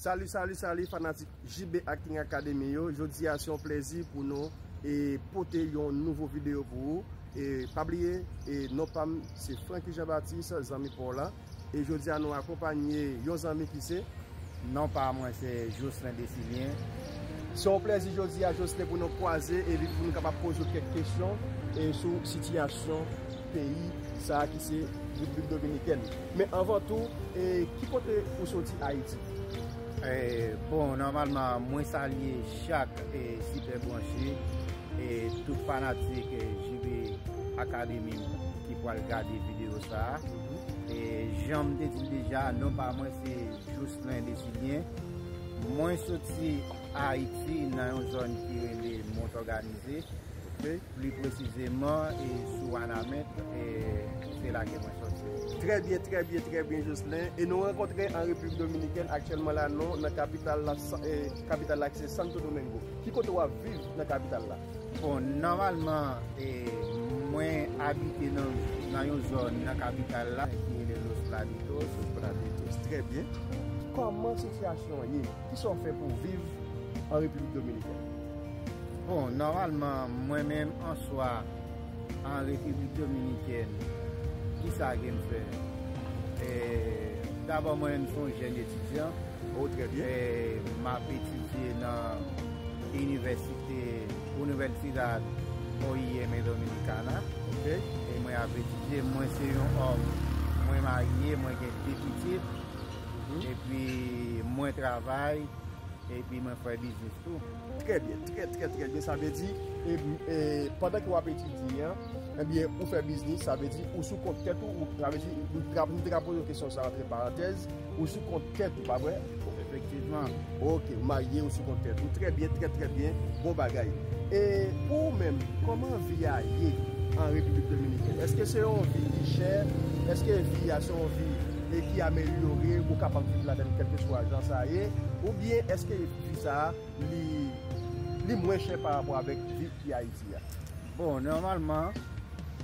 Salut salut salut fanatik JB Acting Academy yo Jodi a se yon plezi pou nou e pote yon nouvo video pou ou e pa bliye e non pam se Franky Jean Baptiste zanmi pa w lan. E jodi a nou akonpanye yon zanmi ki se. Non pa mwen se Jocelin Desilien. Se yon plezi jodi a Jocelin pou nou kwaze epi pou nou kapab poze w kèk kesyon sou sitiyasyon peyi sa a ki se Repiblik Dominikèn. Men anvan tou, ki kote ou soti Ayiti? Bon, nòmalman mwen salye chak Sipèbranche E tout fanatik JB Academy ki pwal gade video sa a. E janm te di deja non pa mwen se Jocelyn Desilien. Mwen soti Ayiti nan yon zòn ki rele Montorganize. Pli presizeman e sou Wanament e se la ke mwen soti. Trè byen, trè byen, trè byen Jocelyn. E nou rankontre an Repiblik Dominikèn aktyèlman la nou nan kapital la. Kapital la ki se Santo Domingo. Ki kote w ap viv nan kapital la? Bon, nòmalman, mwen abite nan yon zòn nan kapital la ki rele Los Praditos. Los Praditos, trè byen. Kòman sitiyasyon an ye? Ki sa w fè pou w viv an Repiblik Dominikèn? Bon, nòmalman, mwen menm, an swa. An Repiblik Dominikèn, ki sa ke m fè? Dabò, mwen menm, m son jèn etidyan. O, trè byen. M ap etidye nan Inivèsite Universidad OIM Dominicana. Ok. E mwen ap etidye. Mwen se yon òm, mwen marye, mwen gen de pitit. Epi mwen travay, epi mwen fè biznis tou. Trè byen, trè trè trè byen, sa vle di, pandan ke wap etidye an, ebyen ou fè biznis, sa vle di ou sou kont tèt ou, sa vle di, nou te ka poze w kesyon sa antre parantèz, ou sou kont tèt ou, pa vre? Efektivman. Ok, ou marye, ou sou kont tèt ou, trè byen, trè trè byen, bon bagay. E pou ou menm, kòman vi a ye an Repiblik Dominikèn? Eske se yon vi ki chè? Eske vi a se yon vi ki amelyore, ou kapab viv ladan l kèlkeswa jan sa ye? Oubyen eske. Vi sa a, li li mwen chè pa rapò avèk viv ki Ayiti a. Bon, nòmalman,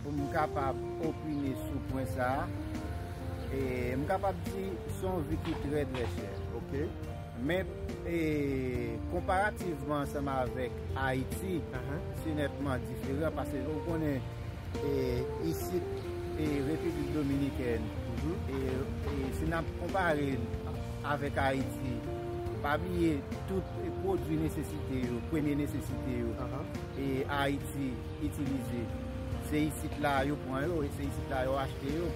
pou m kapab opine sou pwen sa a, e m kapab di se yon vi ki trè trè chè. Ok. Men, e konparativman ansanm avèk Ayiti, se nètman diferan pase ou konnen e isit e Repiblik Dominikèn, e si n ap konpare l. avèk Ayiti. Pa bliye tout pwodwi nesesite yo, premye nesesite yo, e Ayiti itilize. Se isit la yo pran yo e se isit la yo achte yo.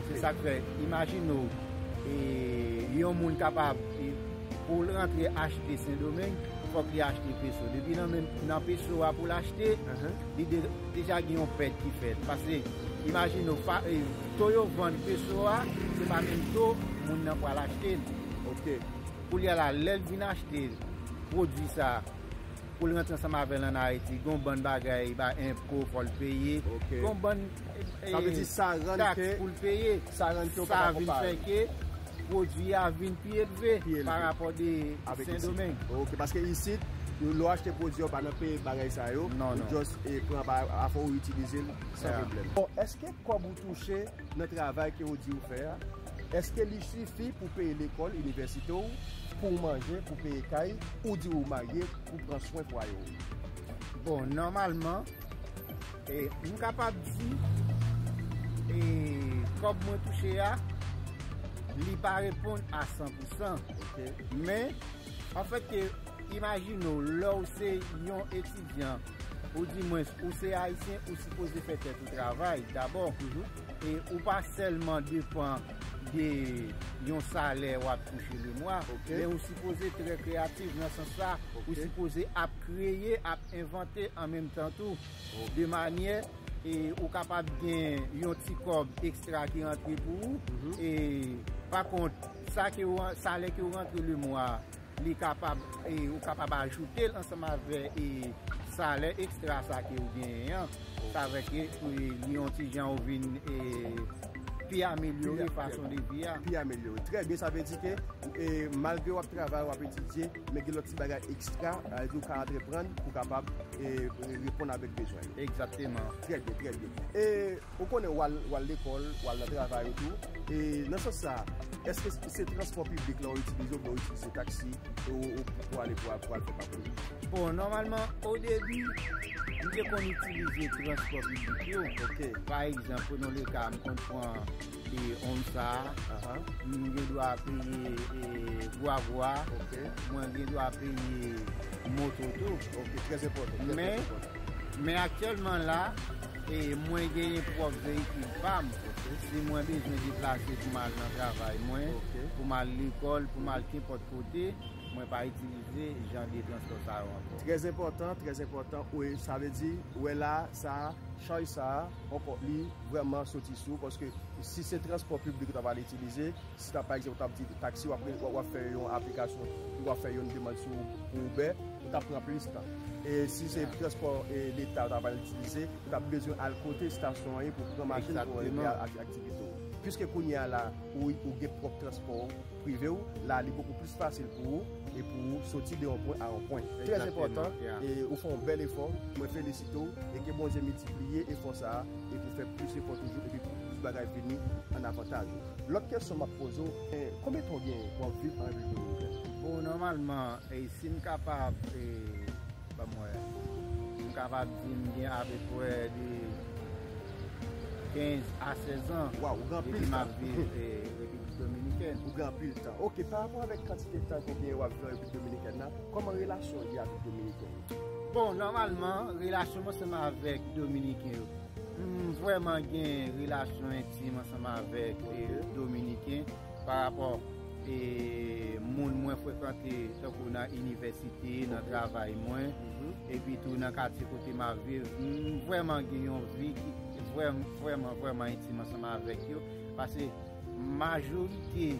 Se sa k fè, imajine w, yon moun kapab, pou l rantre achte Sendomeng, fòk li achte peso. Depi nan peso a pou l achte, li deja gen yon pèt ki fèt. Pase, imajine w, To yo vann peso a se pa menm to moun nan pral achte li ok koulye la lèl t vin achte pwodwi sa poul rantre ansanm avèl an ayiti gon bann bagay ba enpo fòl peye gon bann taks poul peye sa vin fè ke pwodwi a vin pi elve pa rapò de sendomeng ok paske isit lèw achte pwodwi ou pa nan peye bagay sa yo ou just pran afè ou itilizel san pwoblèm. Kòb ou touche nan travay ke ou di ou fè a, èske li sifi pou peye lekòl, inivèsite ou, pou ou manje, pou peye kay, ou di ou marye, pou pran swen fwaye ou? Bon, nòmalman, m kapab di, kòb mwen touche a, li pa reponn a san pou san. Men, anfèt ke, imajine ou, lè ou se yon etidyan, Ou di mwen ou se ayisyen ou sipoze fè tèt ou travay dabò e ou pa sèlman depan de yon salè wap touche le mwa men ou sipoze trè kreyatif nan sans sa ou sipoze ap kreye ap envante an menm tan tou de manyè e ou kapab gen yon ti kòb ekstra ki rantre pou ou e pa kont sa ke ou salè ke ou rantre le mwa. Li kapab, e ou kapab ajoute l ansanm avè e salè ekstra sa ke ou genyen an. Sa vè ke pou e li yon ti jan ou vin e pi amelyore fason de vi a. Pi amelyore. Trè byen, sa vle di ke e malgre w ap travay, w ap etidye, men gen lòt ti bagay ekstra a ou ka antreprann pou kapab e reponn avèk bezwen yo. Egzakteman. Trè byen, trè byen. E Ou konnen w al w al lekòl, w al nan travay ou tou. E nan sans sa a, èske se transpò piblik la ou itilize oubyen ou itilize taksi pou ale pou al fè pati ou? Bon, nòmalman, odebi, m te konn itilize transpò piblik yo. Ok. Pa egzanp, prenons le cas, m konn pran Onsa a, m gen dwa peye gwagwa, mwen gen dwa peye moto tou. Ok, trèzenpòtan. Men, men aktyèlman la. E mwen genyen pwòp veyikil pa m. Si mwen bezwen deplase pou m al nan travay mwen, pou m al lekòl, pou m al kenpòt kote, mwen pa itilize jan de transpò sa yo ankò. Trè enpòtan, trè enpòtan. Wi, sa vle di, ou wè la a, sa a, chaj sa a, li vrèman soti sou ou paske si se transpò piblik ou ta pral itilize, Si ta pa ekzanp ou tap di taxi wap wap fè yon aplikasyon ou wap fè yon demand sou pou Uber ou tap pran plis tan e si se transpò e leta ou ta pral itilize ou tap bezwen al kote stasyon an ye pou pran machin pou rive a aktivite ou piske kounye a la ou gen pwòp transpò prive ou la li bokou plis fasil pou ou e pou ou soti de yon pwen a yon pwen trè enpòtan e ou fè yon bèl efò mwen felisite ou e ke Bondye miltipliye efò sa e pou fè plis efò toujou epi pou plis bagay vini an avantaj ou. Lòt kesyon map poze w e konbyen tan w gen wap viv an Repiblik Dominikèn? Bon nòmalman e si m kapab e banm wè m kapab di m gen apeprè de 15 a 16 an Waw ou gen anpil tan depi map viv e Repiblik Dominikèn. Ou gen anpil tan ok parapò avèk kantite tan ou gen wap viv an Repiblik Dominikèn la kòman relasyon w gen avèk dominiken yo? Bon nòmalman relasyon mwen se menm avèk dominiken yo. M vrèman gen relasyon entim ansanm avèk dominiken pa rapò moun mwen frekante tankou nan inivèsite, nan travay mwen epi tou nan katye kote m ap viv. M vrèman gen yon vi ki vrèman vrèman entim ansanm avèk yo. Majorite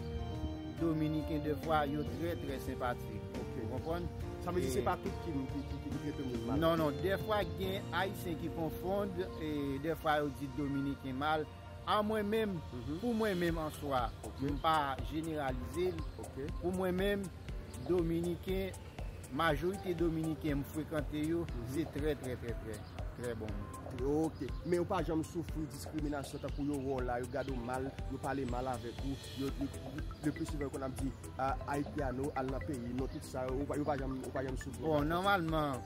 dominiken de fwa yo trè trè senpatik ok ou konprann. Sa vle di se pa tout ki trete moun mal. Non non de fwa gen ayisyen ki konfond de fwa yo di dominiken mal a mwen menm pou mwen menm an swa m pa jeneralize pou mwen menm dominiken Majorite dominiken m frekante yo se trè trè trè trè trè bon moun. Yo ok, men yo pa janm soufri diskriminasyon tankou yo wè w la yo gade w mal, yo pale mal avèk ou, yo le plus souvent yo konn ap di Haitiano al nan peyi nou tout sa yo ou pa janm ou pa janm soufri. Bon nòmalman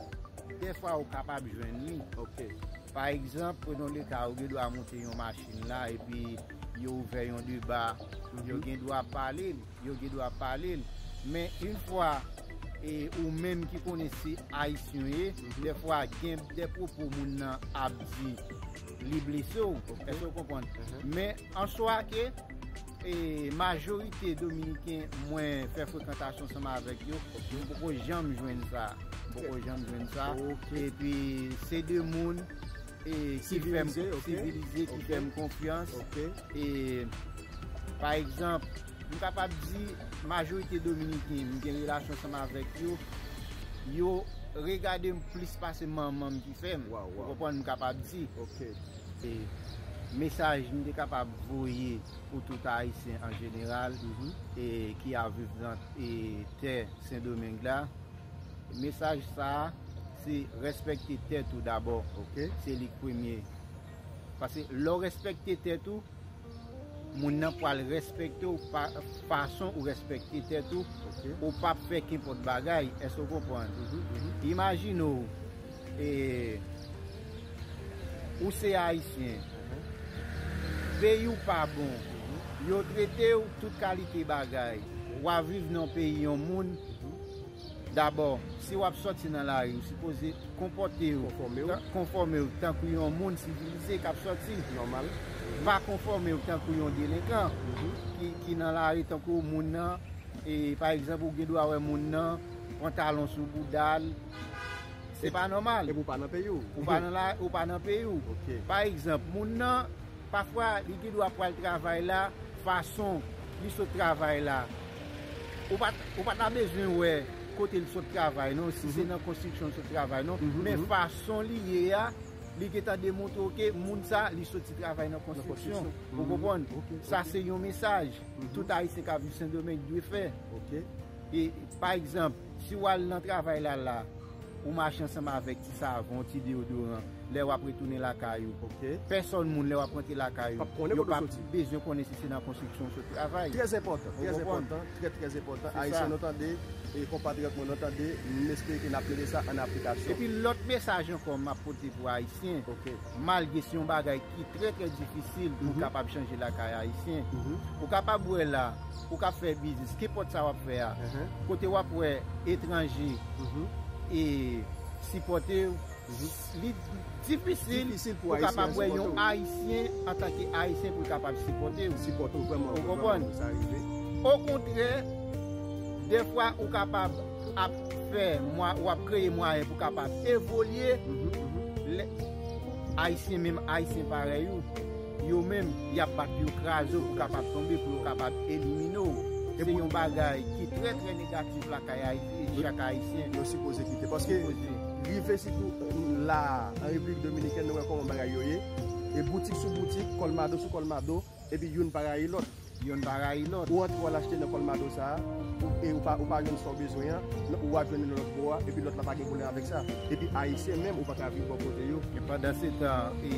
dèfwa ou kapab jwenn li. Ok. Pa egzanp prenons le cas ou gen dwa monte yon machin la epi yo ouvè yon deba, yo gen dwa pale. Yo gen dwa pale l. Men yn fwa e ou menm ki konnen se ayisyen w ye, dè fwa gen dè pwopo moun nan ap di li blese w, èske w konprann? Men an swa ke e majorite dominiken mwen fè frekantasyon ansanm avèk yo, m poko janm jwenn sa. M poko janm jwenn sa. E pi se de moun. Sivilize ok. Sivilize ki fè m konfyans. Ok. E pa egzanp, m kapab di majorite dominiken m gen relasyon ansanm avèk yo, yo regade m plis pase manman m ki fè m. Waw waw. Ou konprann m kapab di. Ok. E mesaj m te kapab voye pou tout ayisyen an jeneral. E ki ap viv nan tè sendomeng la. Mesaj sa se respekte tèt ou dabò ok se lik premye pase lè w respekte tèt ou moun nan pwal respekte w pa fason ou respekte tèt ou ou pap fè kenpòt bagay eske w konprann imajine w e ou se ayisyen peyi w pa bon yo trete w tout kalite bagay wa viv nan peyi yon moun Dabò, si wap sòti nan lari ou sipoze konpòte ou, konfòme ou tankou yon moun sivilize kap sòti, pa konfòme ou tankou yon delenkan ki nan lari tankou moun nan pa egzanp ou gen dwa wè moun nan pantalon sou boudal se pa nòmal epi ou pa nan peyi ou, ou pa nan peyi ou pa egzanp moun nan pafwa li gen dwa pwal travay la fason li sot travay la. Ou pa ou pa ta bezwen wè kote l sot travay non, si se nan konstriksyon l sot travay non, men fason li ye a, li gen tan demontre w ke moun sa a li soti travay nan konstriksyon. Ou konprann? Sa se yon mesaj tout Ayisyen k ap viv Sendomeng dwe fè. E, pa egzanp. Si w al nan travay la la, ou mache ansanm avèk ti savon, ti deyodoran, lè w ap retounen lakay ou. Pèsòn moun lè w ap rantre lakay ou, yo p ap bezwen konnen si se nan konstriksyon ou sot travay. Trè enpòtan, trè enpòtan, trè trè enpòtan. Ayisyen nou tande, konpatriyòt mwen nou tande, m espere ke n ap mete sa an aplikasyon. Epi lòt mesaj ankò m ap pote pou Ayisyen. malgre se yon bagay ki trè trè difisil pou kapab chanje lakay ayisyen, ou kapab wè la, ou ka fè biznis, kenpòt sa wap fè a, kote wap wè etranje e sipòte ou, li difisil pou ou kapab wè yon ayisyen antanke ayisyen pou l kapab sipòte ou, ou konprann, okontrè, dèfwa ou kapab. ap fè mwa ou ap kreye mwayen pou kapab evolye lè ayisyen menm ayisyen parèy ou yo menm yap bat yo kraze ou pou kapab tonbe pou yo kapab elimine ou se yon bagay ki trè trè negatif lakay ayiti e chak ayisyen yo sipoze kite paske rive sitou la a an repiblik dominikèn nou wè kòman bagay yo ye e boutik sou boutik kòlmado sou kòlmado. Epi youn pa rayi lòt. Youn pa rayi lòt. Ou antre w al achte nan Colmado sa a, e ou pa ou pa jwenn sa w bezwen an, nan ou a jwenn li nan lòt bò a, epi lòt la pa gen pwoblèm avèk sa. Epi Ayisyen menm ou pa ka viv bò kote yo. Men pandansetan, e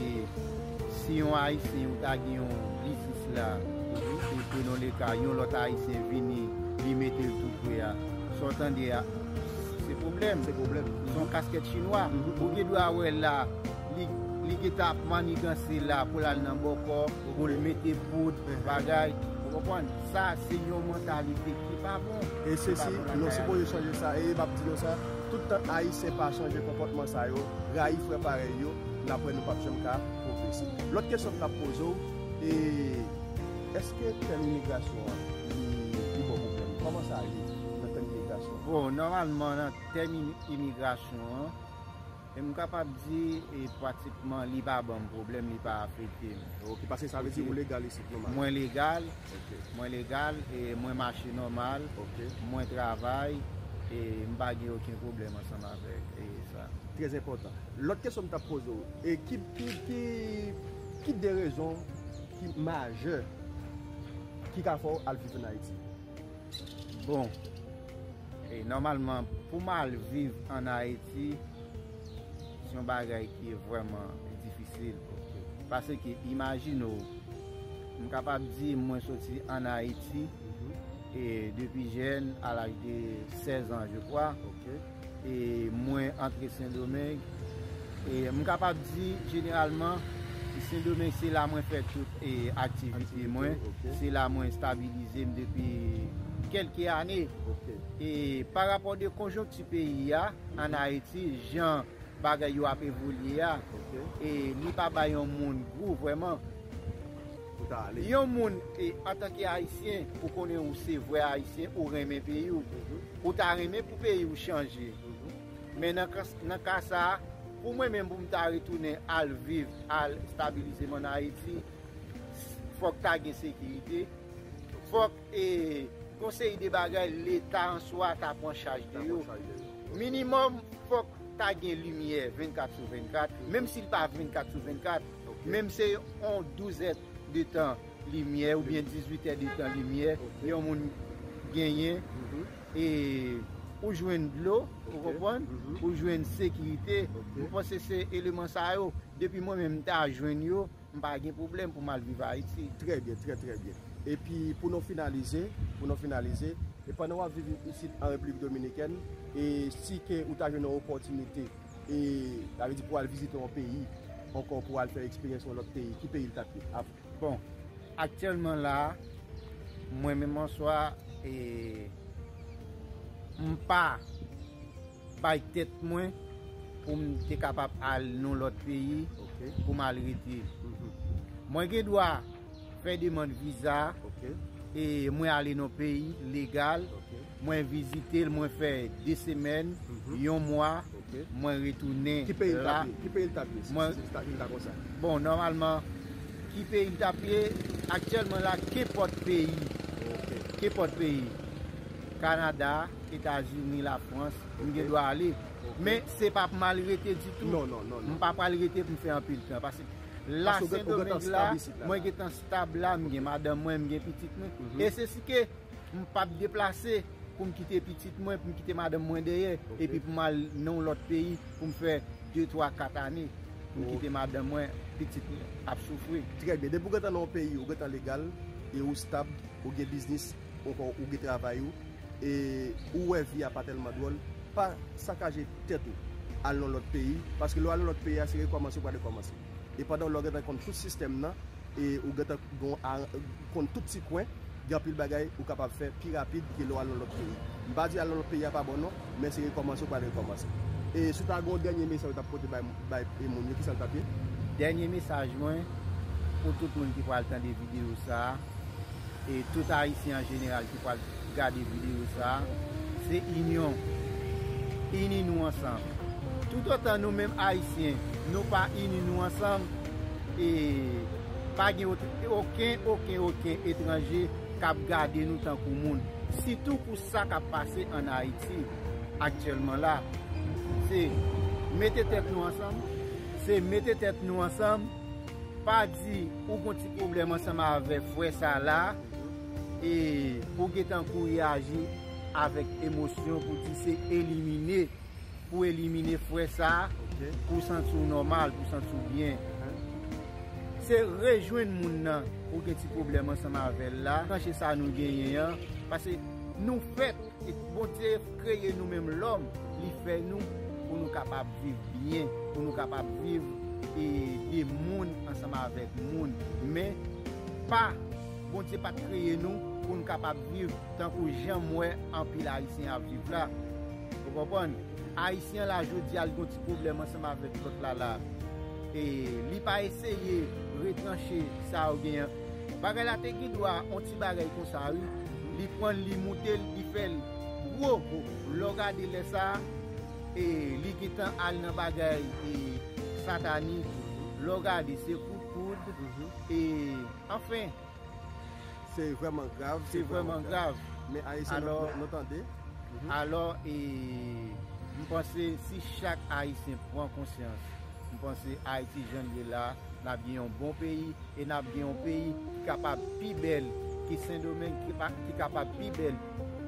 si yon Ayisyen ou ta gen yon biznis la, e prenons le cas, yon lòt Ayisyen vini, li mete l tou pre a, sa w tande a, se pwoblèm. Se pwoblèm. S on kaskèt chinwa. Ou gen dwa wè la. Li gentan ap maniganse la pou l al nan bòkò, pou l mete poud, pou bagay. Ou konprann? Sa se yon mantalite ki pa bon. E se si nou sipoze chanje sa, e m ap di nou sa, tout tan Ayisyen pa chanje konpòtman sa yo, rayi frè parèy yo, n ap wè nou p ap janm ka pwogrese. Lòt kesyon m t ap poze w, e èske tèm imigrasyon an li pi bon pou plenn? Kòman sa ye nan tèm imigrasyon? Bon, nòmalman nan tèm imigrasyon an. E m kapab di e pratikman li pa banm pwoblèm, li pa afekte m. Ok, pase sa vle di ou legal isit nòmal? Mwen legal, mwen legal e mwen mache nòmal, mwen travay e m pa gen oken pwoblèm ansanm avèk e sa. Trè enpòtan. Lòt kesyon m t ap poze w, e ki, ki, ki de rezon ki majè ki ka fè w al viv ann Ayiti? Bon, E nòmalman pou m al viv an Ayiti, se yon bagay ki vrèman difisil. Paske imajine w, m kapab di mwen soti an Ayiti, e depi jèn, a laj de 16 an je kwa, E mwen antre sendomeng e m kapab di jeneralman sendomeng se la mwen fè tout e aktivite mwen se la mwen stabilize m depi kelke ane e pa rapò de konjonkti peyi a an ayiti jan bagay yo ap evolye a e li pa bay yon moun gou vweman pou ta ale yon moun e antanke ayisyen ou konnen ou se vwe ayisyen ou renmen peyi w Ou ta renmen pou peyi ou chanje. Men nan ka sa, pou mwen menm pou m ta retounen al viv, al stabilize m an Ayiti, fòk ta gen sekirite, fòk e yon seri de bagay leta an swa ta pran chaj de yo. Minimòm fòk ta gen limyè 24 sou 24, menm si l pa 24 sou 24, menm se yon douzèt de tan. Limyè oubyen 18 è de tan limyè yon moun genyen e ou jwenn dlo ou konprann ou jwenn sekirite mwen panse se eleman sa yo depi mwen menm m ta jwenn yo m pa gen pwoblèm pou m al viv Ayiti. Trè byen, trè trè byen. Epi pou nou finalize, pou nou finalize, e pandan w ap viv isit an Repiblik Dominikèn e si ke ou ta jwenn yon opòtinite e sa vle di pou al vizite yon peyi ankò pou al fè eksperyans yon lòt peyi, ki peyi l t ap ye? Bon aktyèlman la mwen menm an swa e m pa bay tèt mwen pou m te kapab al nou lòt peyi pou m al rete mwen gen dwa fè demand viza e mwen ale nou peyi legal Mwen vizite l mwen fè 2 semèn, yon mwa, mwen retounen la. Ki peyi l tap ye si se Etazini ta konsa? Bon nòmalman ki peyi m tap ye aktyèlman la kenpòt peyi, kenpòt peyi Kanada, Etazini, Lafrans m gen dwa ale men se pa pou m al rete ditou, m pa pral rete pou m fè anpil tan paske la Sendomeng la mwen gen tan stab la m gen madanm mwen, m gen pitit mwen e se si ke. M p ap deplase pou m kite pitit mwen, pou m kite madanm mwen dèyè epi pou m al nan yon lòt peyi pou m fè de, twa, kat ane pou m kite madanm mwen, pitit mwen ap soufri. Trè byen. Depi ou gentan nan yon peyi, ou gentan legal e ou stab, ou gen biznis oubyen ou gen travay ou e ou wè vi a pa tèlman dwòl, pa sakaje tèt ou al nan lòt peyi paske lè w al nan lòt peyi a se rekòmanse ou pral rekòmanse. e pandan lè w gentan konn tout sistèm nan e ou gentan konn tout ti kwen gen anpil bagay ou kapab fè pi rapid ke lè w al nan lòt peyi m pa di al nan lòt peyi a pa bon non men se rekòmanse ou pral rekòmanse e si w ta gen yon dènye mesaj ou tap pote bay moun yo kisa l tap ye? Dènye mesaj mwen pou tout moun ki pral tande videyo sa. e tout ayisyen an jeneral ki pral gade videyo sa a, se inyon. Ini nou ansanm. Toutotan nou menm ayisyen nou pa ini nou ansanm, e pa gen oken, oken, oken etranje k ap gade nou tankou moun. Sitou pou sa k ap pase ann Ayiti aktyèlman la. Se mete tèt nou ansanm, se mete tèt nou ansanm. Pa di ou gon ti pwoblèm ansanm avèk frè sa la e pou w gentan kou reyaji avèk emosyon pou di se elimine pou elimine frè sa pou w santi w nòmal, pou w santi w byen. Se rejwenn moun nan ou gen ti pwoblèm ansanm avè l la, chanje sa nou genyen an, pase nou fèt, Bondye. kreye nou menm lòm, li fè nou pou nou kapab viv byen, pou nou kapab viv e de moun ansanm avèk moun, men pa Bondye pa t kreye nou pou n kapab viv tankou jan m wè anpil ayisyen ap viv la ou konprann, ayisyen la jodi a li gon ti pwoblèm ansanm avèk lòt la la e li pa eseye retranche sa yo genyen bagay la te gin dwa on ti. Ti bagay konsa wi li pranl li moutel li fèl gwo lèw gade lè sa li gentan al nan bagay satanik lèw gade se kout poud anfen se vrèman grav se vrèman grav men ayisyen nou tande alò e mpanse si chak ayisyen pran konsyans. M panse Ayiti jan l ye la, n ap gen yon bon peyi e n ap gen yon peyi ki kapab pi bèl ke Sendomeng, ki kapab pi bèl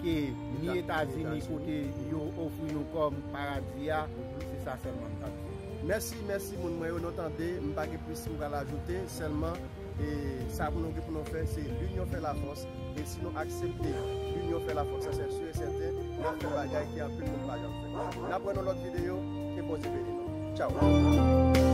ke ni Etazini kote yo ofri nou kòm paradi a. Se sa sèlman m t ap di. Mèsi, mèsi moun mwen yo, nou tande, m pa gen plis m pral ajoute, sèlman. E sa pou nou gen pou nou fè se linyon fè la fòs e si nou aksepte linyon fè la fòs sa se sur et certain nap fè bagay ke anpil moun pa janm fè. Nap wè nan lòt videyo, ke Bondye beni nou. Tchaww.